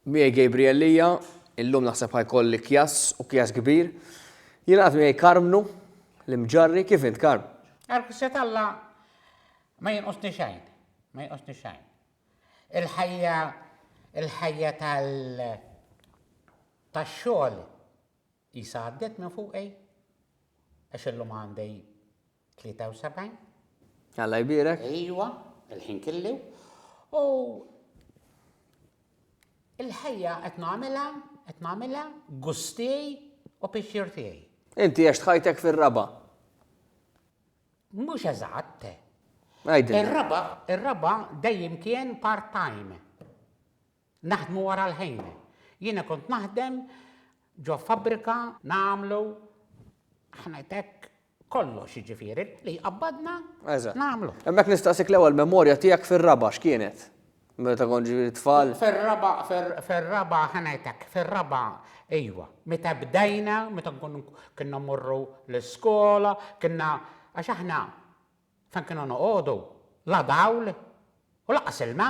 Miegħi Gabriel Lia, illum naħseb ħa jkolli kjass u kjass kbir. Jingħaqad miegħi Karmnu, l-Imġarri, kif int Karm? Għall-ħsja t'Alla ma jinqusni xejn, ma jinqusni xejn. Il-ħajja, il-ħajja tal-xogħol Qisha għaddiet minn fuqi għax illum għandi 73. Alla jbierek. Ejwa, il-ħin killi u il-ħajja qed nagħmilha, qed nagħmilha gust tiegħi u pixxier tiegħi. Inti għext ħajtek fir-raba'. Mhux eżatt. Għidilna. Ir-raba', ir-raba' dejjem kien part-time. Naħdmu wara l-ħin. Jiena kont naħdem ġo fabbrika nagħmlu ħnajtek kollox jiġifieri li jqabbadna nagħmlu. Hemmhekk nistaqsik l-ewwel memorja tiegħek fir-raba' x'kienet? Meta kont ġifieri tfal? Fir-raba' fir-raba' ħnajtek fir-raba' iva. Meta bdejna, meta nkunu kienna mmorru l-iskola, kienna għax aħna fejn kienu noqogħdu la dawl u lanqas ilma.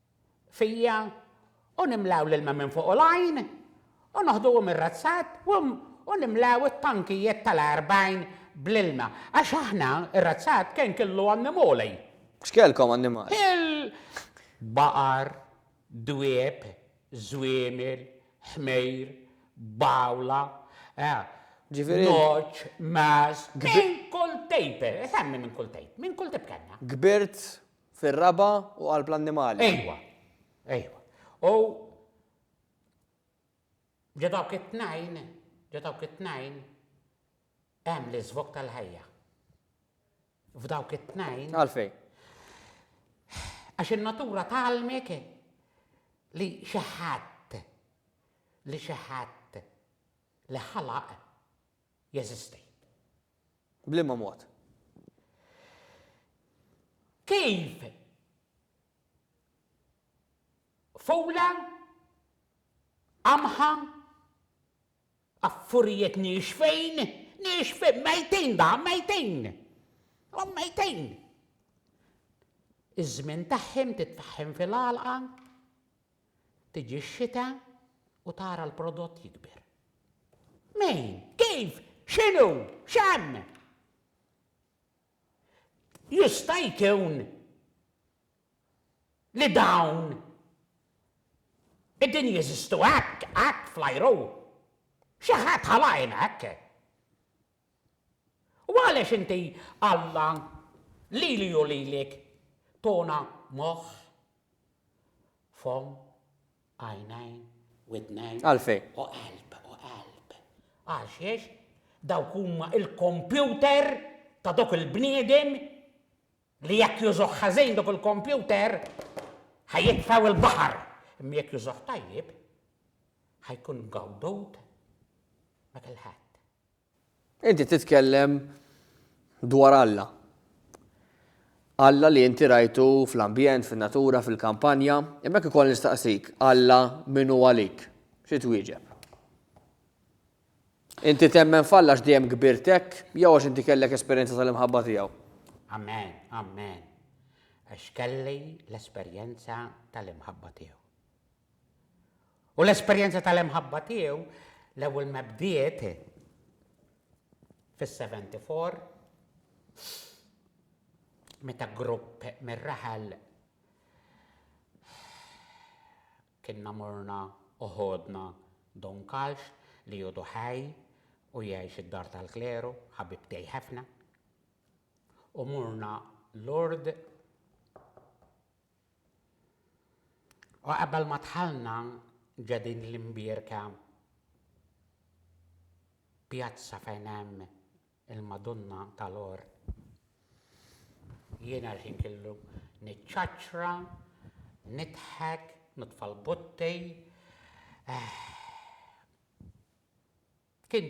fija, u nimlew l-ilma minn fuq u l-għajn, u noħduhom ir-razzat, u nimlew it-tankijiet tal-għerbgħin bl-ilma, għax aħna, ir-razzat, kien killu annimoli. X'kellkom annimali? Il. Baqar, dwieb, żwiemel, ħmejr, bgħula, nogħġ, magħaż, minn kull tip, semmi minn kull tip, minn kull tip kellna. Kbirt Fir-raba' u qalb l-annimali. Ejwa, ejwa. U ġo dawk it-tnejn, ġo dawk it-tnejn hemm l-iżvok tal-ħajja. F'dawk it-tnejn. Għalfej. Għax in-natura talmek li xi ħadd li xi ħadd li ħalaq jeżisti. B'liema mod? Kif fola qamħa affurjet nixfejn, nixfejn, mejtin da, mejtin. U mejtin. Iż-żmien tagħhom titfaħħem fil-għalqa, Tiġi x-xita u tara l-prodott jikber. Min? Kif? X'inhu? X'hemm? Jista' jkun li dawn qegħdin jeżistu hekk, hekk fl-ajru. Xi ħadd ħalaqhom hekk. U għalex inti, Alla, lili u lilek, tona moħħ, fomm, għajnejn, widnejn, Għalfejn? u qalb, u qalb? Għaxiex dawk huma l-kompjuter ta' dawk il-bniedem li jekk jużuh ħażin dak il-kompjuter, ħa jitfgħu l-baħar, imma jekk jużuh tajjeb, ħa jkun mgawdud ma' kulħadd. Inti titkellem dwar Alla. Alla li inti rajtu fl-ambjent, fin-natura, fil-kampanja, imma jekk ikoll nistaqsik, Alla min hu għalik? Xi twieġeb? Inti temmen f'Alla għax dejjem kbirt hekk jew għax inti kellek esperjenza tal-imħabba tiegħu? Amen, amen. Għax kelli l-esperjenza tal-imħabba tiegħu. U l-esperjenza tal-imħabba tiegħu l-ewwel ma bdiet fis-74 meta grupp mir-raħal kienna morna u ħodna Don Kalx li għodu ħaj u jgħix id-Dar tal-Kleru, ħabib tiegħi ħafna, u morna Lourdes U qabel ma dħalna ġo din l-imbierka pjazza fejn hemm il-Madunna tal-Għor, jiena l-ħin killu niċċaċċra, nidħek, nitfa' l-butti. Kien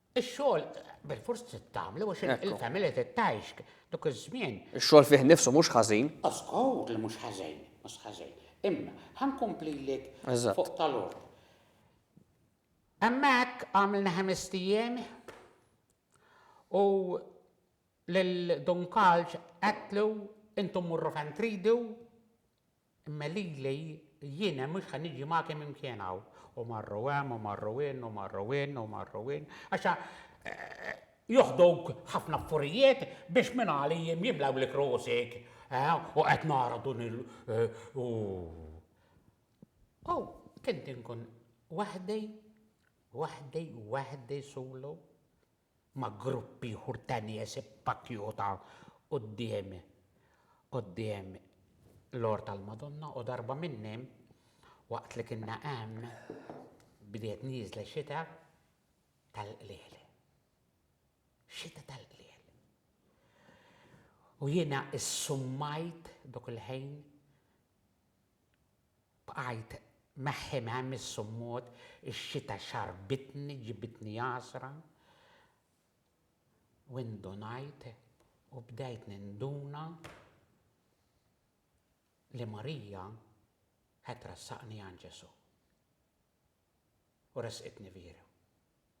Ix-xogħol bilfors trid tagħmlu għax il-familja trid tgħix dak iż-żmien. Ix-xogħol fih nnifsu mhux ħażin. O żgur li mhux ħażin, mhux ħażin. Imma ħa nkomplilek fuq tal-ord. Hemmhekk għamilna ħamest ijiem u lil Don Kalġ għedtlu intom morru fejn tridu Imma lili jiena mhux ħa niġi magħkem imkien hawn. U marru hemm u marru in u marru in u marru in. Għax joħduk ħafna affurijiet biex minn għali jiem jimlewlek rosek. U qed nara dun il u. U kint inkun waħdi, waħdi, waħdi solo. ma' grupp ieħor ta' nies ippakjuta quddiem quddiem l-għorf tal-Madonna u darba minnhom waqt li kinna hemm bdiet nieżla xita tal-qliel. Xita tal-qliel. U jiena ssummajt dak il-ħin Bqajt meħħi m'hemm is-summut, ix-xita xarrbitni, ġibitni għasra, u indunajt u bdejt ninduna li Marija qed trassaqni għand Ġesù u ressqitni viri.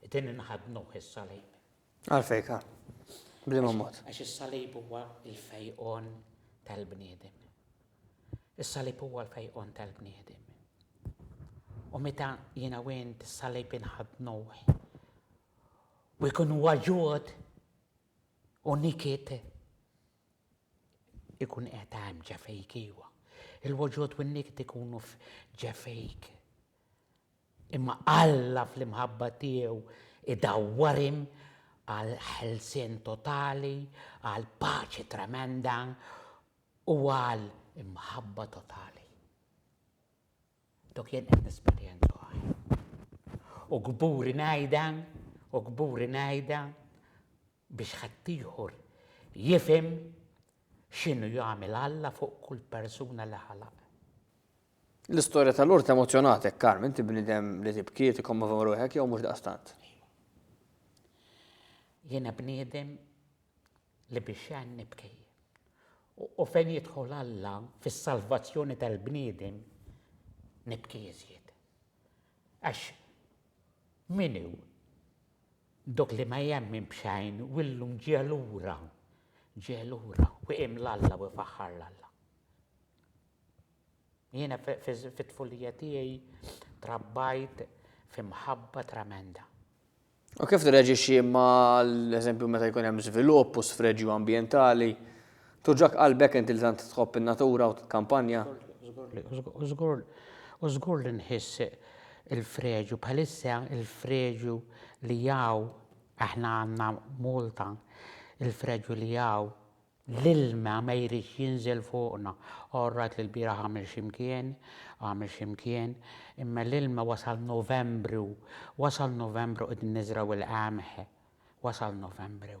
It-tieni naħa tnuh is-salib. Għalfejn ka? Bliema mod? Għax is-salib huwa l-fejqon tal-bniedem. Is-salib huwa l-fejqon tal-bniedem. U meta jiena u int is-salib inħadnuh u jkun huwa ġod u nikit ikun qed hemm ġefejk iwa. Il-woġod u n-nikit ikunu ġefejk. Imma Alla fl-imħabba tiegħu idawwarhim għal ħelsien totali, għal paċi tremenda u għal imħabba totali. Dak jien qed nesperjenza u kburi ngħidha, u kburi ngħidha, biex ħaddieħor jifhem x'inhu jagħmel Alla fuq kull persuna li ħalaq. L-istorja ta' Lourdes emozzjonatek, Carm, inti bniedem li tibki, tikkommovi ruħek jew mhux daqstant? Jiena bniedem li biex xejn nibki. U fejn jidħol Alla fis-salvazzjoni tal-bniedem nibki iżjed. Għax min hu Dok li ma jemmin b'xejn u illum ġie lura, ġie lura u qiem l-Alla u jfaħħar l-Alla. Jiena fit-tfulija tiegħi trabbajt fi mħabba tremenda. U kif tirreġixxi ma' l-eżempju meta jkun hemm żvilupp u sfreġju ambjentali? Togħġok qalbek int li tant tħobb in-natura u titkampanja? U żgur li nħiss il-freġju, bħalissa il-freġju li hawn, aħna għandna Malta, il-freġju li hawn, l-ilma ma jridx jinżel fuqna. Orrajt li lbieraħ għamel xi mkien, għamel xi mkien, imma l-ilma wasal Novembru, wasal Novembru qegħdin niżraw il-qamħ, wasal Novembru.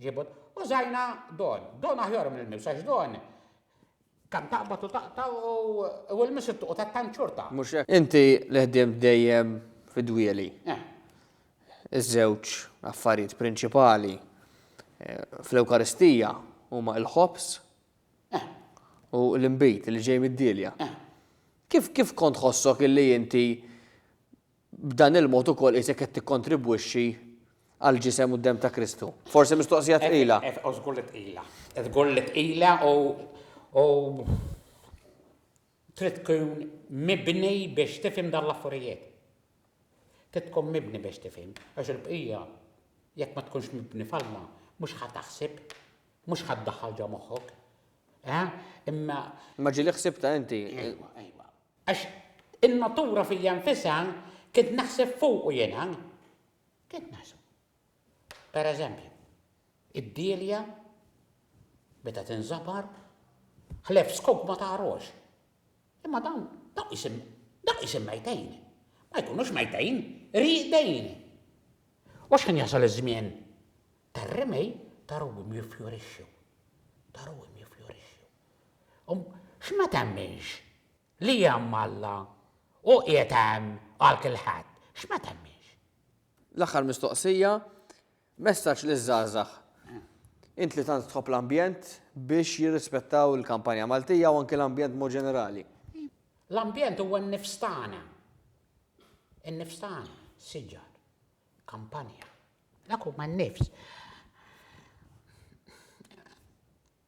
Ġibut, użajna don. Don aħjar minn il-miss, għax don kan taqbad u taqta u l-miss u ta' tanċurta. Mux hekk. Inti li ħdimt dejjem fid-dwieli. Eh. Iż-żewġ affarijiet prinċipali eh, fl-Ewkaristija huma l-ħobż eh. u l-inbid li ġej mid-dielja. Eh. Kif kif kont ħossok illi inti B'dan il-mod ukoll qisek qed tikkontribwixxi għall-ġisem u d-demm ta' Kristu. Forsi mistoqsija tqila. U żgur li tqila. Żgur li tqila u trid tkun mibni biex tifhem dan l-affarijiet. Trid tkun mibni biex tifhem, għax il-bqija jekk ma tkunx mibni f'Alla mhux ħa taħsib, mhux ħa ddaħħal ġo moħħok. Imma. Imma ġieli ħsibta inti. Ejwa, ejwa. Għax in-natura fija nfisha kint naħseb fuqu jiena. Kint naħseb. Per eżempju, id-dielja meta tinżabar, ħlef skop ma tagħrox. Imma dawn dawk isim dawk isim mejtejn. Ma jkunux mejtejn, riqdejn. U x'ħin jasal iż-żmien Tar-rimej ta' ruwim jiffjorixxu, ta' ruwim jiffjorixxu. U x'ma temminx li hemm Alla u qiegħed hemm għal kilħadd? X'ma temminx? L-aħħar mistoqsija, messaġġ liż-żgħażagħ. Int li tant tħobb l-ambjent biex jirrispettaw il-kampanja Maltija u anki l-ambjent b'mod ġenerali. L-ambjent huwa n-nifs tagħna. In-nifs tagħna, siġar. kampanja. Dak huma n-nifs.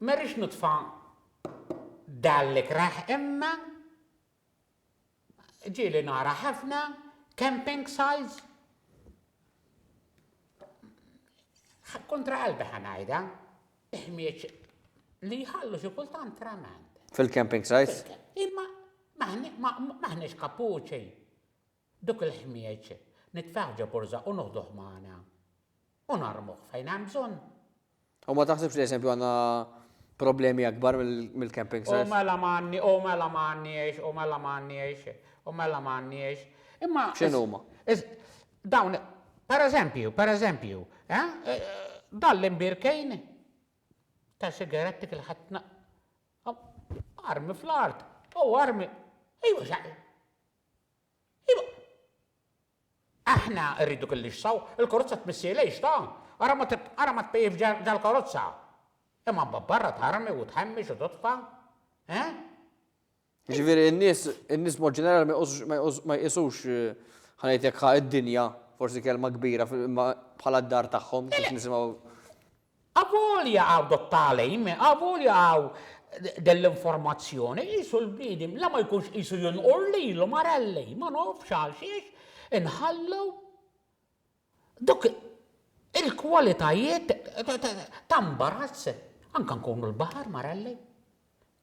Ma rridx nitfa' dan l-ikrah imma ġieli nara ħafna camping sites kontra qalbi ħanajda, ħmieċ li jħallu xi kultant tremend. Fil-camping sites? Imma maħniex kapuċi. Dak il-ħmieġ nitfgħuh ġo borża u noħduh magħna. U narmuh fejn hemm bżonn. U ma taħsibx li eżempju għandna problemi akbar mill-camping sites? U mela m'għandni, u mela m'għandniex, u mela m'għandniex, u mela m'għandniex. Imma. X'inhuma? Dawn, per eżempju, per eżempju, dan l-imbierkejn ta' sigaretti kil-ħadd armi fl-art, u armi, ejwa x'għamel? Iva. Aħna rridu kien li x'saw, il-karozza tmissi lejx ta', ara ma ara ma tpejjifx ġall-karozza. Imma mbagħad barra tarmi u tħemmex u totfa'. Eh? Jiġifieri n-nies in-nies mod ġenerali ma jqosux ma jqos ma jqisux ħa ngħid hekk ħa id-dinja, forsi kelma kbira, imma bħala d-dar tagħhom kif nisimgħu. Avolja hawn dot-tagħlim, avolja hawn din l-informazzjoni, qisu l-bniedem la ma jkunx qisu jinqur lilu, Marelli, ma nafx għalxiex inħallu dawk il-kwalitajiet ta' mbarazz. Anke nkunu l-baħar, Marelli.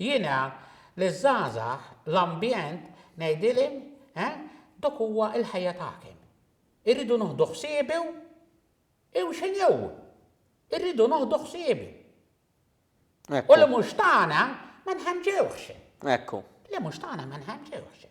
Jiena liż-żgħażagħ l-ambjent ngħidilhim eh dak huwa l-ħajja tagħkim. Irridu noħdu ħsiebu u xi new. Irridu noħdu ħsiebu. U li mhux tagħna ma nħanġewhx. Ekku. Li mhux tagħna ma nħanġewhx.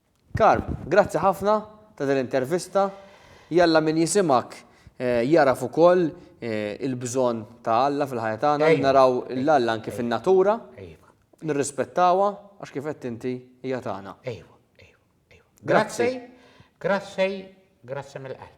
Carm, grazzi ħafna ta' din l-intervista. Jalla min jisimgħek jagħraf ukoll il-bżonn ta' Alla fil-ħajja tagħna, naraw lil Alla anki fin-natura, nirrispettawha għax kif għedt inti hija tagħna. Grazzi. Grazzi, grazzi mill-qalb.